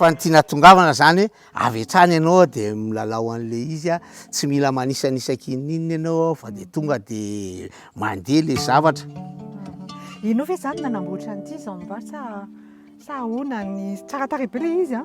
Fa ny tiana tongavana zany hoe avy hatrany ianao dia milalao an'le izy a, tsy mila manisanisa kininina ianao ao fa dia tonga dia mandeha le zavatra. Ianao ve zany nanamboatra an'ity zao mba sa sa ahoana ny tsara tarehy be le izy a.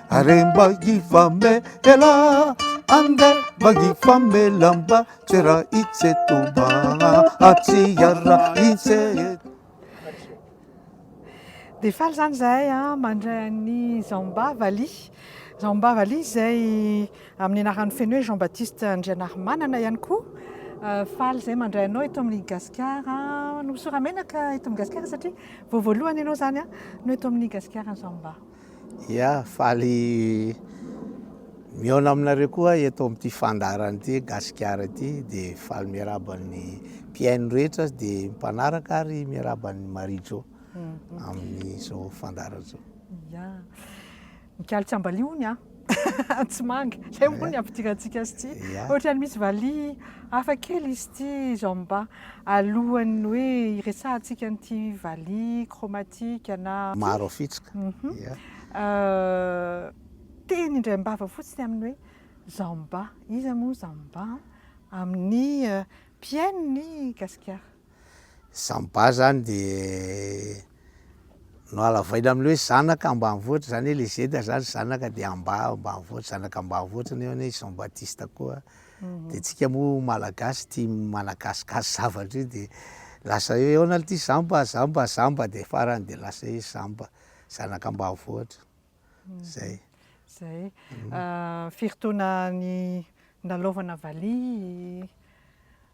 Are mba hifamela Andeha mba hifamela mba Tsera itseto mba Atsiara itseto Dia faly izany izahay mandray an'i Zamba Vali. Zamba Vali izay amin'ny anaran'ny feno hoe Jean Baptiste Andrianarimanana ihany koa. Euh, faly izay mandray anao eto amin'ny gasikara no soramenaka eto amin'ny gasikara satria vao voalohany ianao izany no eto amin'ny gasikara zao mba Ia, faly mihaona aminareo koa aho eto amin'ity fandaharana ity Gasikara ity, dia faly miarahaba ny mpihaino rehetra dia mpanaraka ary miarahaba an'i Marie Jo amin'izao fandaharana izao. Ia, mikalo tsy ambalio hono aho. tsy manga. Zay moa ny ampidirantsika azy ity. Ohatrany misy valiha hafa kely izy ity izao mba alohan'ny hoe hiresahantsika an'ity valiha chromatique na maro afitsika. Teny indray am-bava fotsiny amin'ny hoe Zamba. Iza moa Zamba amin'ny mpihaino ny Gasikara? Zany ba zany de nohalavaina amle hoe zanaka ambanivohitra zany hoe le zeda zany zanaka de amba ambanivohitra zanaka ambanivohitra nefany hoe i Jean Baptiste koa de tsika moa malagasy tia managasikasy zavatra io de lasa hoe ahoana le ty zamba zamba zamba de farany de lasa hoe zamba zanaka ambanivohitra zay. Zay firy taona ny nilalaovana valiha?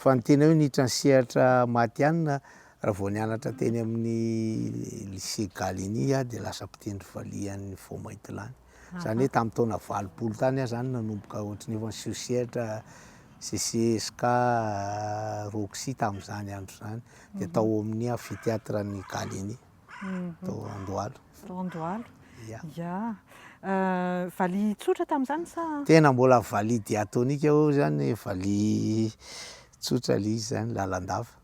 Fa ny tena hoe niditra ny sehatra matihanina raha vao nianatra teny amin'ny lycée Gallieni aho dia lasa mpitendry valiha any Fômaitilany. Izany hoe tamin'ny taona valopolo tany aho izany nanomboka ohatry ny efa niseho sehatra CCSK, Roxy tamin'izany andro izany. Dia tao amin'ny amphithéâtre-n'ny Gallieni. tao Andohalo. Tao Andohalo. Ya. Ya. Euh, valiha tsotra tamin'izany sa? Tena mbola valiha diatonika eo zany, valiha tsotra le izy zany, lalandava.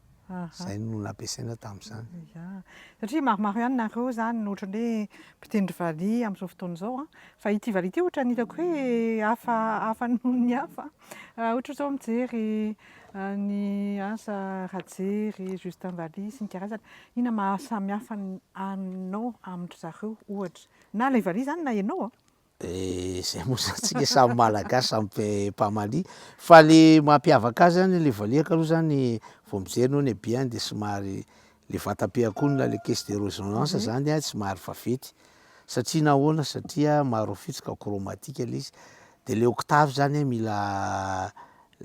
Zay no nampiasaina tamin'izany. Ya. Satria maromaro ihany nareo zany no ohatran'ny hoe mpitendry valiha amin'izao fotoana izao an. Fa ity valiha ity ohatran'ny hitako hoe hafa hafa noho ny hafa. Raha ohatra izao mijery ny asa Rajery, Justin Valiha sy ny karazany, inona mahasamy hafa anao amin-dry zareo ohatra? Na ilay Valiha izany na ianao an! Dia izay moa izany tsika samy malagasy, samy mpamalia. Fa ilay mampiavaka azy izany ilay valiha aloha izany vao mijery ny hoe ny habihany dia somary Le vatam-piankonana le caisse de resonance zany a tsy mahary vavety satria nahoana satria maroafitsoka chromatique le izy de le octave zany a mila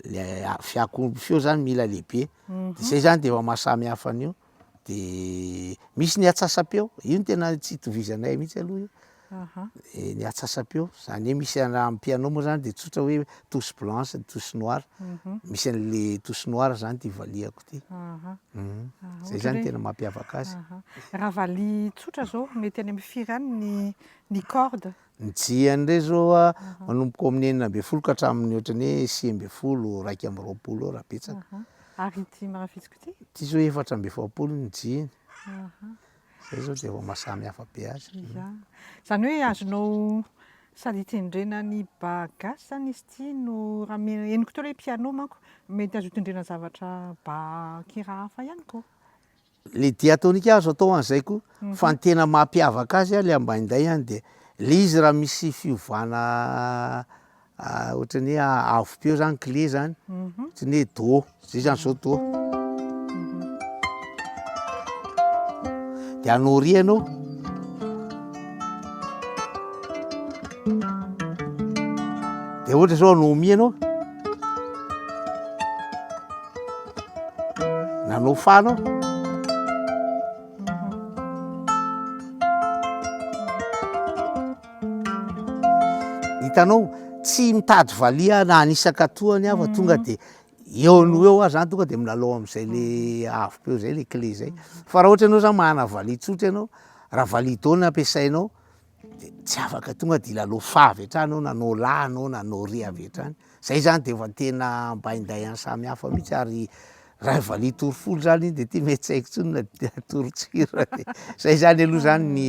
le fiankonana feo zany mila lehibe de zay zany de efa mahasamy hafa an'io de misy ny atsasam-peo io no tena tsy itovizanay mihitsy aloha io. ny atsasam-peo zany hoe misy raha amin'ny piano moa zany de tsotra hoe touche blanche ny touche noire mhm. misy an'le touche noire zany ty valiako ty mhm. zay zany tena mampiavaka azy raha vali tsotra zao mety any amin'ny firy any ny ny corde ny jiany re zao a manomboka amin'ny enina ambin'ny folo ka hatramin'ny ohatrany hoe sivy ambin'ny folo raika amby roapolo eo raha betsaka ary ity marafitsiko ty ty zao efatra amby efapolo ny jiany Izay izao dia vao mahasamy hafa be azy. Izany hoe azonao sady hitendrena ny ba gasy izany izy ity no raha miheno, henoko teo ilay piano manko, mety azo hitendrena zavatra ba kira hafa ihany koa. Ilay diatonika azo atao an'izay koa, mhm. fa ny tena mampiavaka azy ilay ambainday dia ilay izy raha misy fiovana Ohatran'ny hoe avo peo zany kle zany. Mhm. Ohatran'ny hoe do. Zay zany zao do. Mhm. Dia anao ry ianao. Dia ohatra zao anao mi ianao. Nanao fa anao. Mhm. Hitanao, tsy mitady valiha na anisaka tohany aho fa tonga dia eo no eo aho zany tonga dia milalao amin'izay le avoko eo zay le clé zay. Fa raha ohatra ianao zany manana valiha tsotra ianao, raha valiha do no ampiasainao de tsy afaka tonga de hilalao fa avy hatrany ianao na no la anao na no re avy hatrany. Zay zany de efa tena ambainday any samy hafa mihitsy ary raha valiha tory folo zany iny de ty mety tsy haiko tsony na dia tory tsoira e! zay zany aloha zany ny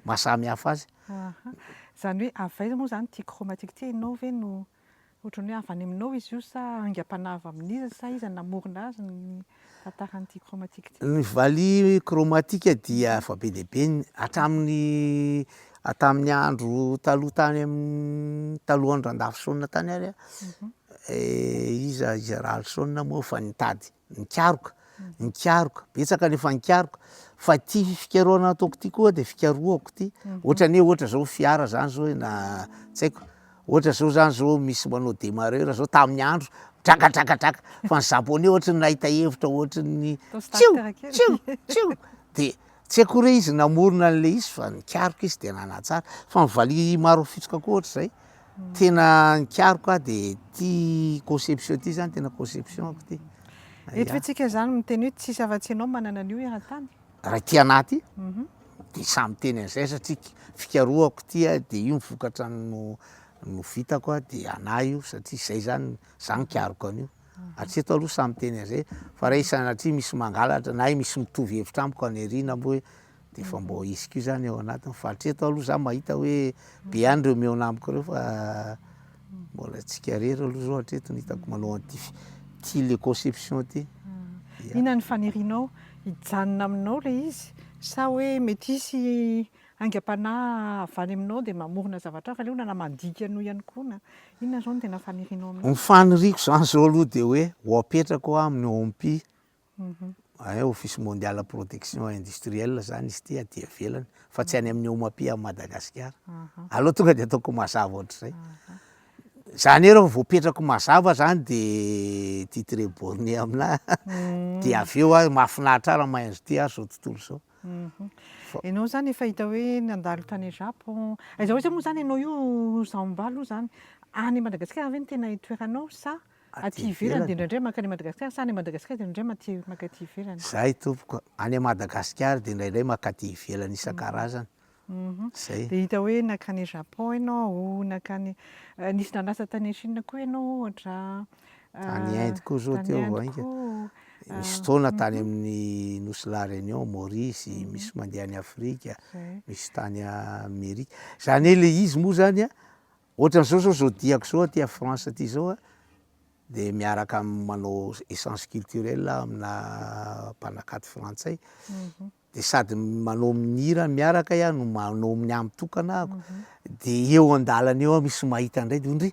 maha samy hafa azy. Aha, zany hoe avy aiza moa zany ty chromatique ty, enao ve no otrany hoe avy any aminao izy io sa aingam-panahy avy amin'iza sa iza namorona azy ny Tantaran'ity chromatique ity. Ny valiha chromatique dia efa be dia be hatramin'ny hatamin'ny andro taloha tany amin'ny talohan'ny Randafisaona tany ary mhm. eh, iza iza Ralisaona moa efa nitady nikaroka mhm. nikaroka betsaka nefa nikaroka fa ty fikarohana ataoko ty koa dia fikarohako ty mhm. ohatra ny hoe ohatra zao fiara zany zao na tsy haiko Ohatra zao zany zao misy manao demarreur zao tamin'ny andro draka draka draka fa ny japonais ohatra ny nahita hevitra ohatra ny tsiu tsiu tsiu de tsy haiko re izy namorona an'le izy fa nikaroka izy de nanatsara fa ny valiha maro fitsoka koa ohatra zay hmm. tena nikaroka aho de ty conception ty zany tena conception ako ty eto fitsika zany miteny hoe tsisy afa-tsy ianao manana an'io eran-tany raha ity anah ity de samy teny an'izay satria fikarohako ity a de io ny vokatra no no vitako a de anah io satria zay zany za nikaroka an'io hatreto aloha samy teny an'izay fa raha sanatria misy mangalatra na misy mitovy hevitra amiko aniriana mbo hoe de efa mbo hisy koa zany ao anatiny fa hatreto aloha za mahita hoe be ihany reo mihaona amiko reo fa Mbola tsikarera aloha zao hatreto ny hitako manao an'ity fi- ty le conception ty. Ia. Inona ny fanirianao? Hijanona aminao ilay izy sa hoe mety hisy aingam-panahy avy any aminao dia mamorona zavatra hafa aleona na mandika anao ihany koa na inona izao no tena fanirianao amin'io? Ny faniriako izany izao aloha dia hoe ho apetrako aho amin'ny OMPI Hein, office mondial protection industrielle zany izy ity aty ivelany fa tsy any amin'ny OMAPI à Madagasikara. Aleo tonga de ataoko mazava ohatr'izay. Zany hoe raha vao apetrako mazava zany de titre borne aminà de avy eo aho mahafinaritra ahy raha mahay an'zao ty ary zao tontolo zao. Ianao zany efa hita hoe nandalo tany Japon, aiza ho aiza moa zany ianao io Zambala io zany? Any Madagasikara ve no tena itoeranao sa aty ivelany dia indraindray mankany Madagasikara sa any Madagasikara dia indraindray maka aty ivelany? Zay tompoko, any Madagasikara dia indraindray maka aty ivelany isan-karazany. Zay. Dia hita hoe nankany Japon ianao, nankany nisy nanasa tany Chine koa ianao ohatra. Tany Inde koa zao teo vainga. Nisy fotoana tany amin'ny Nosy La Réunion, Maurice, misy mandeha any Afrika, misy tany Amerika. Zany hoe le izy moa zany Ohatran'izao zao zao diako zao aty à France aty zao a, de miaraka am manao essence culturelle aho aminà mpanakanto frantsay, de sady manao mihira miaraka aho no manao ny ahy mitokana ahako, de eo an-dàlana eo aho misy mahita indray de hoe ndry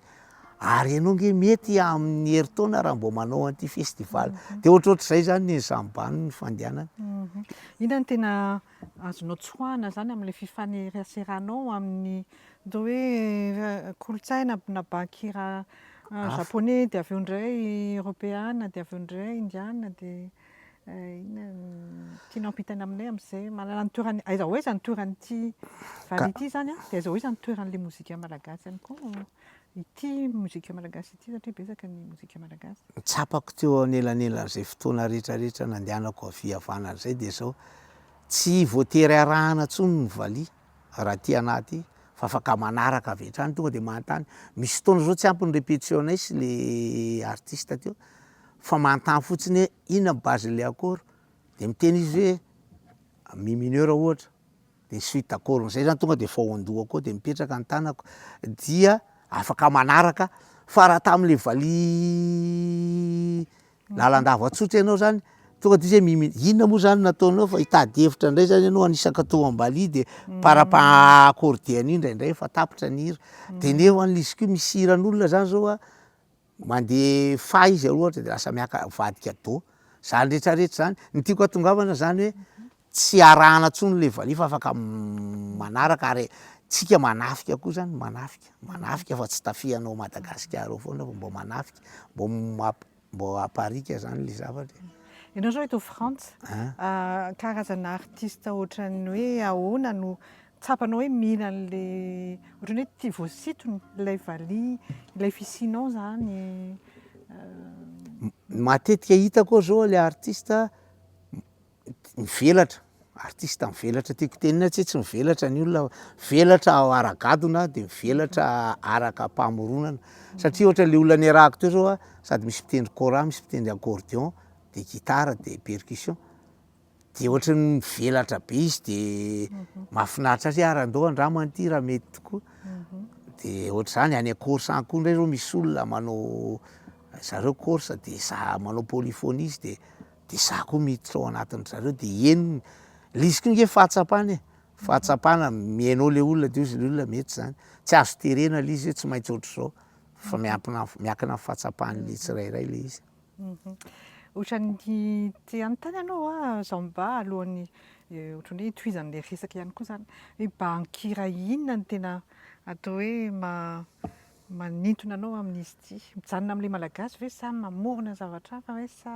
ary ianao nge mety amin'ny herintaona raha mbô manao an'ity festival, de ohatrohatr'izay zany ny sambany ny fandehanany. Inona no tena azonao tsoahina izany amin'ilay fifaneraseranao amin'ny atao hoe kolontsaina na bahan-kira japoney dia avy eo indray eoropeana dia avy eo indray indiana dia inona ny tianao hampitaina aminay amin'izay manana ny toerany aiza ho aiza ny toeran'ity vary ity izany dia aiza ho aiza ny toeran'ilay mozika malagasy ihany koa Ity mozika malagasy ity satria betsaka ny mozika malagasy. Ny tsapako teo anelanelan'izay fotoana rehetrarehetra nandehanako avia havanana izay dia izao, tsy voatery arahana intsony ny valiha raha aty anaty fa afaka manaraka avy hatrany, tonga dia manontany, misy fotoana izao tsy ampy ny répétition-nay sy le artiste teo fa manontany fotsiny hoe inona ny base-n'ilay accord? dia miteny izy hoe mi mineur ohatra. de suite akoriny zay zany tonga de vao an-doha koa de mipetraka ny tanako dia afaka manaraka fa raha tamle valiha lalandava tsotra ianao zany tonga de izy hoe mimili- inona moa zany nataonao fa hitady hevitra indray zany ianao anisaka to am-baliha de par apa- accordé an'io ndraindray fa tapitra ny hira de nefany le izy ko misy hiran'olona zany zao a. Mandefa izy aloha ohatra de lasa miaka- mivady cadeau, zany rehetra rehetra zany. Ny tiako hahatongavana zany hoe tsy arahana tsony le valiha fa afaka manaraka ary tsika manafika koa zany manafika, manafika fa tsy tafihanao Madagasikara ao foana fa mbô manafika, mbô mamp- mbô apariaka zany le zavatra e. Ianao zao eto Frantsa, karazana artiste ohatran'ny hoe ahoana no Tsapanao hoe mila an'ilay ohatran'ny hoe tia voasintona ilay valiha, ilay fisianao izany. Matetika hitako ao izao ilay artista mivelatra, artista mivelatra tiako hotenenina tsy hoe tsy mivelatra ny olona, mivelatra ara-gadona de mivelatra arakam-pamoronana satria ohatra le olona niarahako teo zao a sady misy mpitendry kora, misy mpitendry accordion de gitara de percussion. Dia ohatry ny mivelatra be izy dia mahafinaritra azy hoe ary andao andramana ity raha mety tokoa. Dia ohatr'izany any Corse any koa indray izao misy olona manao zareo Corse dia izaho manao polyphonie izy dia dia izaho koa miditra ao anatin-dry zareo dia henony. Ilay izy koa ange fahatsapana e, fahatsapana mihaino ilay olona dia hoy izy ilay olona mety izany. Tsy azo terena ilay izy hoe tsy maintsy ohatr'izao fa miampina- miankina amin'ny fahatsapan'ny tsirairay ilay izy. Ohatran'ny te hanontany ianao aho izao mba alohan'ny ohatran'ny hoe hitohizan'ilay resaka ihany koa izany. Hoe banky iray inona no tena atao hoe manintona anao amin'izy ity? Mijanona amin'ilay Malagasy ve sa mamorona zavatra hafa ve sa?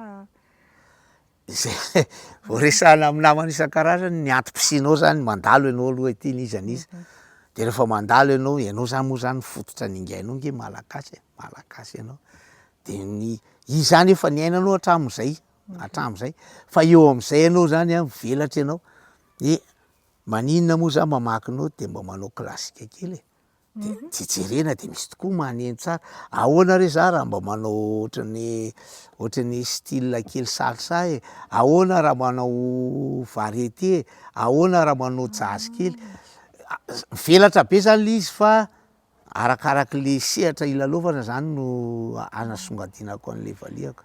Izay vao resahina amin'ny namana isan-karazany ny antom-pisianao zany mandalo ianao aloha ety n'iza n'iza de rehefa mandalo ianao, ianao zany moa zany fototra ningainao nge malagasy e, malagasy ianao de ny izy zany efa niainanao hatramin'izay hatramin'izay fa eo am'zay ianao zany a mivelatra ianao de maninona moa za mamaky anao de mba manao klasika kely e. de mhm. tsy jerena de misy tokoa maneno tsara ahoana re za raha mba manao ohatrany ohatrany style kely salsa e ahoana raha manao varieté e ahoana raha manao jazz kely mivelatra be zany le izy fa arakaraky le sehatra ilalaovana zany no anasongadinako an'le valiaka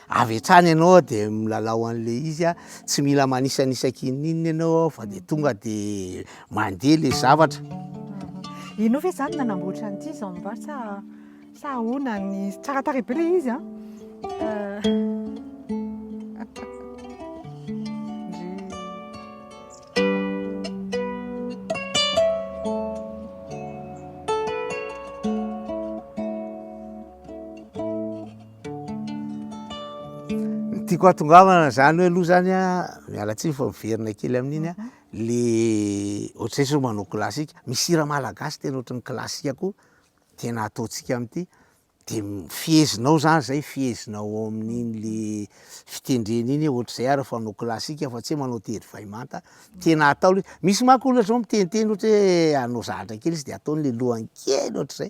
Avy hatrany ianao de milalao an'le izy a, tsy mila manisanisaka inon'inona ianao fa de tonga de mandeha le zavatra. Ianao ve zany nanamboatra an'ity zamba sa sa ahoana ny tsara tarehy be le izy a. Ny tiako hahatongavana izany hoe aloha izany an, miala tsiny fa miverina kely amin'iny an, le ohatr'izay zao manao classique, misy hira malagasy tena ohatry ny classique koa tena ataontsika amin'ity, de fehezinao izany izay, fehezinao ao amin'iny le fitendrena iny hoe ohatr'izay ary fa hanao classique fa tsy hoe manao tery vay manta, tena atao le izy, misy manko olona zao miteniteny ohatry hoe hanao zahatra kely izy de ataony le lohany kely ohatr'izay.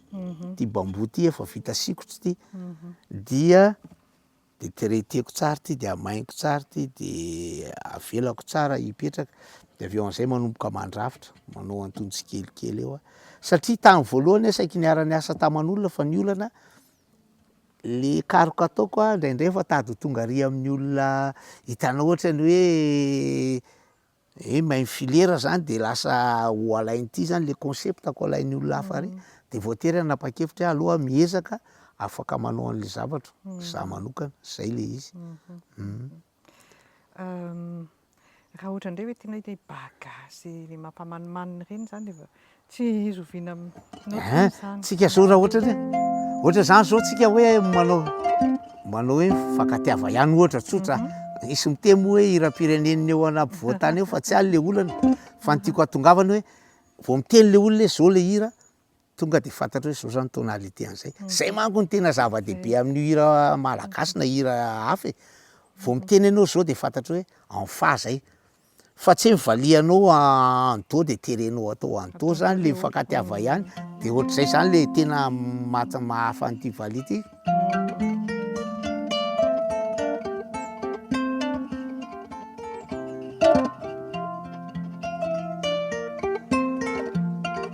mhm. ty bambou ty efa vita sikotro ty mhm. dia de traiteko tsara ty de amainiko tsara ty de avelako tsara hipetraka de avy eo am'izay manomboka mandrafitra manao antonjy tsikelikely eo a satria tany voalohany a saiky niarany asa taman'olona fa ny olana le karoka ataoko a indraindray fa tady ho tonga ary amin'ny olona hitanao ohatrany hoe He main filera zany de lasa ho alain'ity zany le concept ko alain'ny olona hafa ary de voatery hanapa-kevitra hoe aleo aho miezaka afaka manao an'le zavatra za manokana, zay le izy. Raha ohatra ndray hoe tianao hoe bagage le mampamanimanina ireny zany le Tsy zoviana notes izany. Tsika zao raha ohatra hoe ohatra izany zao tsika hoe manao manao hoe mifankatiava ihany ohatra tsotra. Mhm. Nisy miteny moa hoe hiram-pirenen'ny eo an'ampovoan-tany eo fa tsy ahy ilay olana. Fa ny tiako hahatongavana hoe vao miteny ilay olona hoe zao ilay hira tonga dia fantatro hoe zao zany tonalité an'izay. Mhm. Zay manko no tena zava-dehibe amin'io hira malagasy na hira hafa e. Vao miteny ianao zao dia fantatro hoe en fa zay. fa tsy hoe mivalianao en dos de terenao atao en dos zany le mifankatiava ihany de ohatr'izay zany le tena maha- mahafa an'ity valiha ty.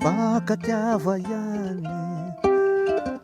Mifankatiava ihany e.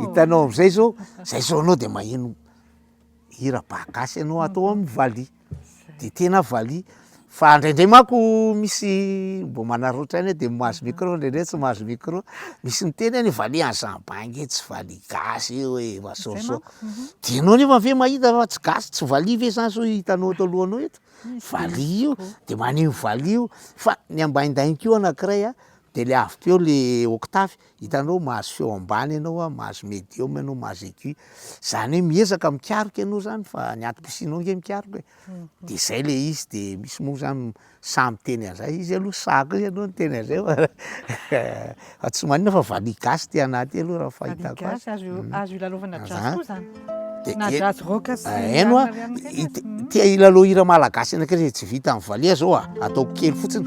Hitanao amizay zao, zay zao anao de maheno hira ba gasy anao atao amin'ny valiha, de tena valiha, fa indraindray manko misy mbo manaraotra any de mahazo micro indraindray tsy mahazo micro, misy miteny any valiha any zany, ba nge tsy valiha gasy io e, efa soasoa. Dia ianao nefa ve mahita fa tsy gasy tsy valiha ve zany sao hitanao ato alohanao eto? Valiha io, dia maneho valiha io. Fa ny ambaindainy koa anankiray a, dia le avy teo le octave, hitanao mahazo feo ambany ianao a, mahazo medium ianao, mahazo aigu. Zany hoe miezaka mikaroka ianao zany fa ny antom-pisianao ange mikaroka e. Dia zay le izy, dia misy moa zany. Sahy miteny an'izay izy aloha, sahy koa izy aloha niteny an'izay fa fa tsy maninona fa valiha gasy ity anah ity aloha raha fahitako azy. Valiha gasy, azo azo ilalaovana jazz koa izany. Dia na jazz rock sy ny namana ihany koa izany e. Tia hilalao hira malagasy anakay izay tsy vitan'ny valiha izao a, ataoko kely fotsiny.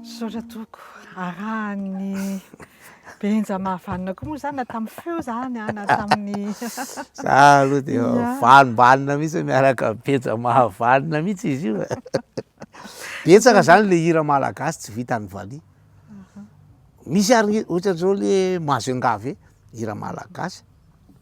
Misaotra tompoko. Arahan'ny Benja mahavanona koa moa izany na tamin'ny feo izany ah, na tamin'ny Za aloha dia valimbalina mihitsy miaraka amin'ny Benja mahavanona mihitsy izy io. Betsaka izany ilay hira malagasy tsy vitan'ny valiha. Misy ary ohatran'izao le Mazengave, hira malagasy.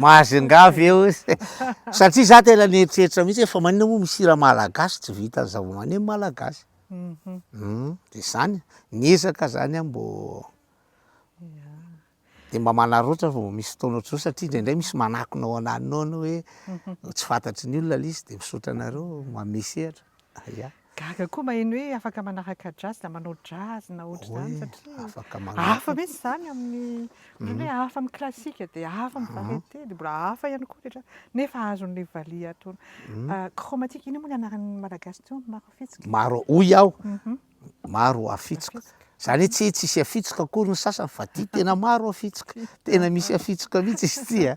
Mahazingavy eo izy. Satria za tena nieritreritra mihitsy hoe fa manina moa misy hira malagasy tsy vita ny zavamaneno malagasy. Mhm. Hmm, de zany, niezaka zany aho mbô de mba manarotra vao misy fotoana ohatr'izao satria indraindray misy manakona ao anananao ianao hoe tsy fantatry ny olona le izy de misaotra anareo manome sehatra ya. Gaga koa maheno hoe afaka manaraka jazz na manao jazz na ohatr'izany satria afaka manaraka hafa mihitsy izany amin'ny ohatrany hoe hafa amin'ny classique de hafa amin'ny variété de mbola hafa ihany koa rehetra nefa azon'le valiha atao chromatique ino moa ny anaran'ny malagasy teo maro fihetsika? maro hoy aho Maro hafitsoka. Zany hoe tsy hoe tsy hisy hafitsoka akory ny sasany fa ty tena maro hafitsoka. Tena misy hafitsoka mihitsy izy ty a.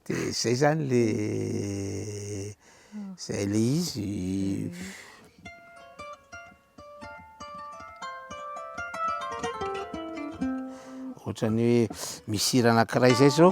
De zay zany le zay le izy. Ohatran'ny hoe misy hira anankiray zay zao.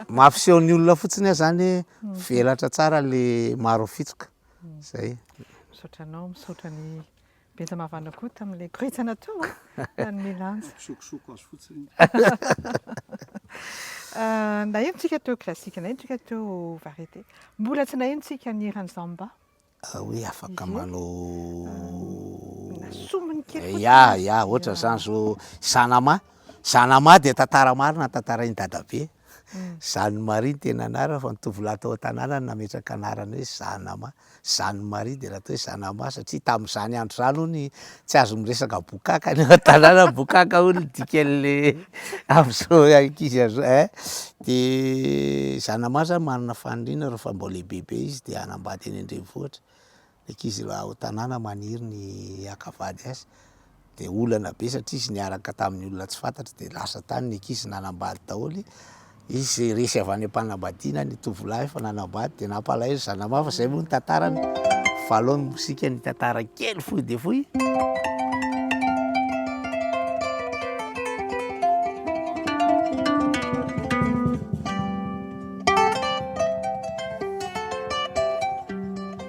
Mampiseho ny olona fotsiny aho zany hoe velatra tsara le maro fitsoka. Zay. Misaotra anao, misaotra ny Benjamavana koa tamin'ilay koretsana teo nanome lanja. Misokosoko azy fotsiny. Naheno tsika teo classique, naheno tsika teo variété. Mbola tsy naheno tsika ny hiran'i Zamba. Ah oui afaka manao Sombiny kely fotsiny. Ya ya ohatra zany zao Sanama, Sanama dia tantara marina notantarain'i Dadabe, Jeanne Marie ny tena anarany fa ny tovolahy tao an-tanàna no nametraka anarana hoe Sanama, Jeanne Marie dia lasa atao hoe Sanama satria tamin'izany andro izany hono i Tsy azo miresaka bokaka any an-tanàna bokaka hono ny dikan'le amin'izao ankizy azo eh. De zanamaha zany manana faniriana rehefa mbô lehibebe izy de hanambady any an-drenivohitra, ny ankizy raha ao an-tanàna maniry ny haka vady azy, de olana be satria izy niaraka tamin'ny olona tsy fantatry de lasa tany ny ankizy nanambady daholo. Izy resy avy any am-panambadiana ny tovolahy efa nanambady dia nampalahelo zanamafy, izay moa ny tantarany. Valon'ny mozika ny tantara kely fohy dia fohy.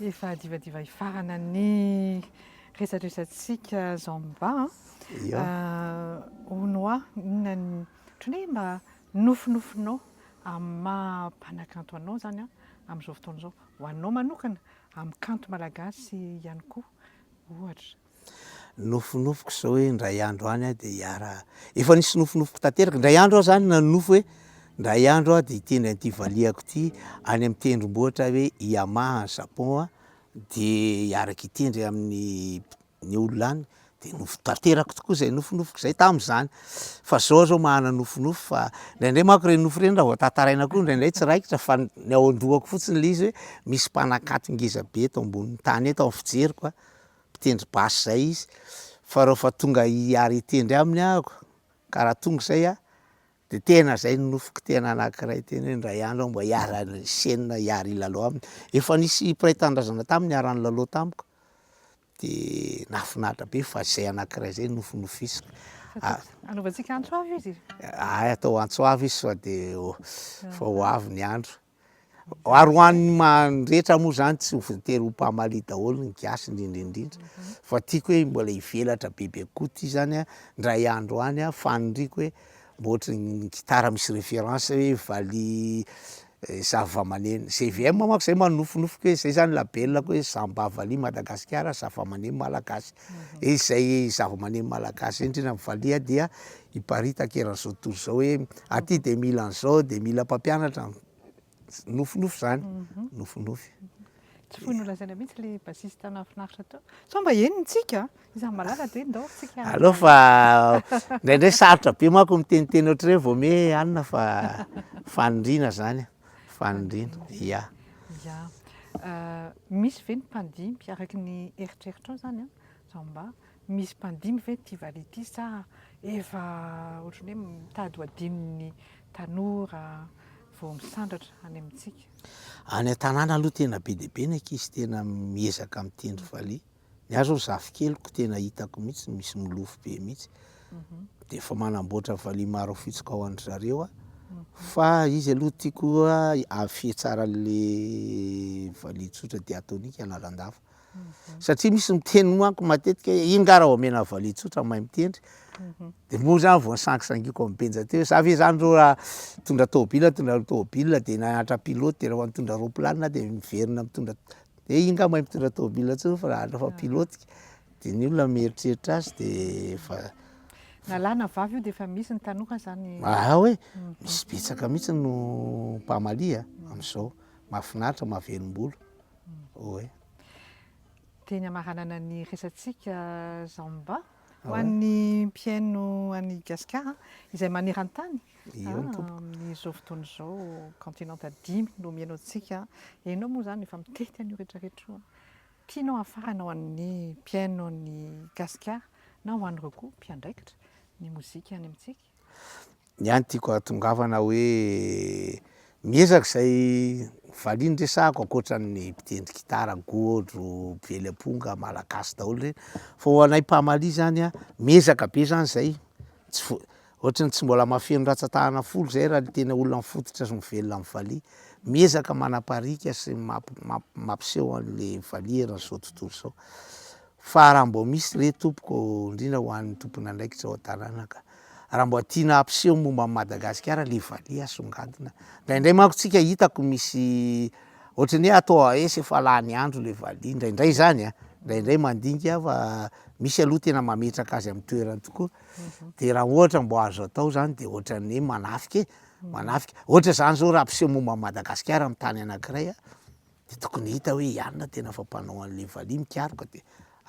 Efa divadiva hifarana ny resadresantsika zao mba ho noa inona ny ohatran'ny hoe mba nofinofinao amin'ny maha mpanakanto anao izany amin'izao fotoana izao, ho anao manokana, amin'ny kanto malagasy ihany koa ohatra. Nofinofiko izao hoe indray andro any aho dia hiara, efa nisy nofinofiko tanteraka, indray andro aho zany nanonofy hoe indray andro aho dia hitendry an'ity valiako ity any amin'ny tendrombohitra hoe Yamaha any Japon a, dia hiaraka hitendry amin'ny ny olona any, dia nofy tanteraka tokoa izay nofinofiko izay tamin'izany, fa zao aho zao manana nofinofy fa indraindray manko ireny nofy ireny raha vao tantaraina koa indraindray tsy raikitra fa ny ao an-dohako fotsiny le izy hoe misy mpanankato ngeza be eto ambonin'ny tany eto amin'ny fijeriko a. mpitendry basy zay izy fa reo fa tonga hiary hitendry aminy ahako ka raha tonga zay aho de tena zay ny nofiko tena anakiray tena hoe ndray andro aho mba hiara hisenina hiary hilalao aminy, efa nisy mpiray tanindrazana tam niara nilalao tamiko de nahafinaritra be fa zay anakiray zay nofinofisiko ary Anaovantsika antso avo izy e! Aay atao antso avo izy sao de efa ho avy ny andro. ary ho an'ny mandrehetra moa zany tsy ho voatery ho mpamalia daholo ny gasy indrindra indrindra fa tiako hoe mbola hivelatra bebe kokoa ty zany a ndray andro any a faniriako hoe mba ohatry ny gitara misy référence hoe valiha eh, zavamaneno GVM manko zay manofinofiko hoe zay zany labelako hoe samba valiha madagasikara zavamaneno malagasy Izay zavamaneno malagasy indrindra amin'ny valiha dia hiparitaka eran'izao tontolo izao hoe aty dia mila an'izao, dia mila mpampianatra an- nofinofy izany, mhm. nofinofy. Tsy foy nolazaina mihitsy ilay bassiste nahafinaritra teo. Sao mba eny ny tsika, izaho malala dia ndao tsika. Aleo fa indraindray sarotra be manko miteniteny ohatr'ireny vao mihe alina fa faniriana izany. Faniriana, ia. Ia. Misy ve ny mpandimby, araka ny eritreritrao izany an, izao mba misy mpandimby ve ity valiha ity sa efa ohatran'ny hoe mitady ho adinon'ny tanora vao misandratra any amintsika? Any an-tanàna aloha tena be dia be ny ankizy tena miezaka mitendry valiha. Ny ahy zao zafikeliko tena hitako mihitsy misy milofo be mihitsy. Mhm. Dia efa manamboatra valiha maro fitsika ao an-dry zareo aho. Mhm. Fa izy aloha tiako afie tsara le valiha tsotra dia atoniky analandava. Mhm. Satria misy miteny moako matetika hoe iny nga raha omena valiha tsotra mahay mitendry. Dia moa zany vao nisangisangiako amin'ny benja teo. Za ve zany reo raha tondra tôbila, tondra tôbila dia nahantra pilote, dia raha nitondra rôplanina dia miverina mitondra Dia iny ngah mahay mitondra tômôbila intsony fa raha andro fa pilote dia ny olona mieritreritra azy dia efa Na lahy na vavy io dia efa misy ny tanoka zany. Aa hoe misy betsaka mihitsy no mpamaly a amin'izao. Mahafinaritra, mahavelom-bolo. Oe. Dia ny hamaranana ny resatsika Zamba. Ho an'ny mpihaino an'i Gasikara izay maneran-tany, amin'izao fotoana izao kaontinanta dimy no mihaino antsika, ianao moa izany efa mitety an'io rehetra rehetra io, tianao hahafarana ho an'ny mpihaino an'i Gasikara na ho an'ireo koa mpiandraikitra ny mozika any amintsika? Ny ahy ny tiako ahatongavana hoe miezaka izay valiany resahako ankoatran'ny mpitendry gitara, gôdro, mpively amponga, malagasy daholo reny fa ho anay mpamalia zany a miezaka be zany zay tsy vo- ohatran'ny tsy mbola mahafeno rantsan-tanana folo zay raha ny tena olona mifototra sy mivelona amin'ny valiha, miezaka manapariaka sy mamp- mampiseho an'le valiha eran'izao tontolo zao. Fa raha mbô misy re tompoko ndrindra ho an'ny tompon'andraikitra ao an-tanàna ka, raha mbô tiana hampiseho momba an'i Madagasikara le valiha asongadina, ndraindray manko tsika hitako misy ohatran'ny hoe atao AS efa lany andro le valiha, ndraindray zany a, ndraindray mandinika fa misy aloha tena mametraka azy amin'ny toerany tokoa, de raha ohatra mbô azo atao zany de ohatran'ny hoe manafika e, manafika ohatra zany zao raha ampiseho momba an'i Madagasikara amin'ny tany anakiray a. de tokony hita hoe ianona tena fa mpanao an'le valiha mikaroka de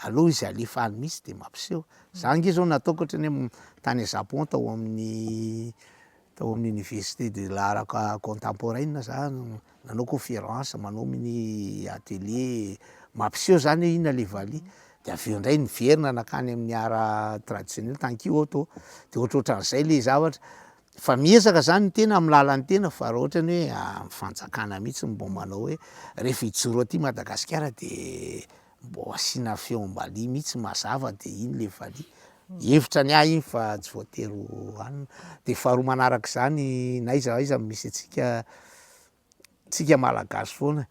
aleo izy alefa any mihitsy de mampiseho za nge zao nataoko otrany hoe tany Japon tao amin'ny tao amin'ny université de l'art co- contemporaine za no nanao conférence manao mini atelier mampiseho zany hoe inona le valiha de aveo ndray niverina nakany amin'ny art traditionnel tankio aho to de ohatrohatran'izay le zavatra. Fa miezaka zany ny tena amin'ny lalan'ny tena fa raha ohatra ny hoe amin'ny fanjakana mihitsy mbo manao hoe rehefa hijoro aty Madagasikara de mbo asiana feom-baliha mihitsy mazava de iny le valiha. Hevitra ny ahy iny fa tsy voatery ho anona. De faharoa manarak'izany na aiza aiza misy antsika tsika malagasy foana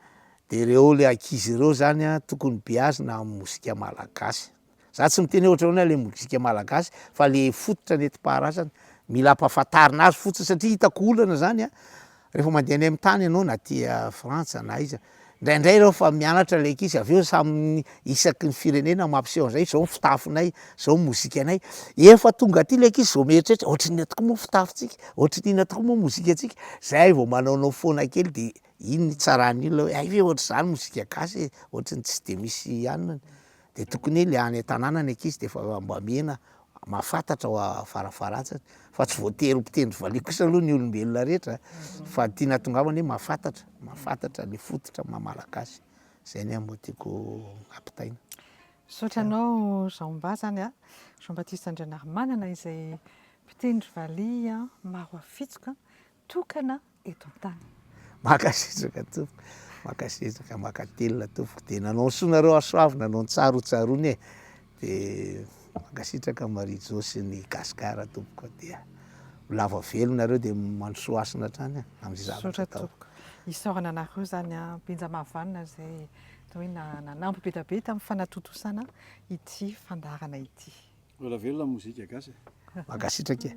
de reo le ankizy reo zany a tokony beazina am mozika malagasy za tsy miteny oe ohatranao le mozika malagasy fa le fototra nentim-paharazana mila ampahafantarina azy fotsiny satria hitako olana zany a refa mande any am tany anao na aty frantsa na aiza ndraindray reo fa mianatra le ankizy aveo samy isaky ny firenena mampiseho an'izay, izao ny fitafinay, izao ny mozikanay. Efa tonga aty ilay ankizy izao mieritreritra, ohatrin'ina tokoa moa ny fitafintsika, ohatrin'ina tokoa moa ny mozikantsika. Izay vao manaonao foana kely dia iny ny tsaran'ny olona hoe hay ve ohatr'izany mozika gasy e, ohatry ny tsy dia misy anona. Dia tokony hoe ilay any an-tanàna ny ankizy dia efa mba mihena mahafantatra ao am-parafaratsiny fa tsy voatery ho mpitendry valiha kosa aloha ny olombelona rehetra fa ny tiana hahatongavana hoe mahafantatra, mahafantatra ny fototra maha-malagasy. Zay ny amiko tiako ampitaina. Misaotra anao Jean-Mba zany a, Jean-Baptiste Andrianarimanana izay mpitendry valiha maro afitsoka tokana eto an-tany. Mankasitraka tompoko, mankasitraka, mankatelina tompoko, dia nanao soa nareo hasoavina, nanao ny tsara ho tsaroana e, De mankasitraka an'i Marie Jo sy ny Gascar tompoko a dia ho lava velo nareo dia mandrosoa hasina hatrany a amin'ny zavatra Misaotra ataoko. tompoko. Isaorana anareo izany a Benja Mahavanona izay atao hoe na- nanampy be dia be tamin'ny fanatontosana ity fandaharana ity. Lola velona ny mozika gasy e. Mankasitraka e.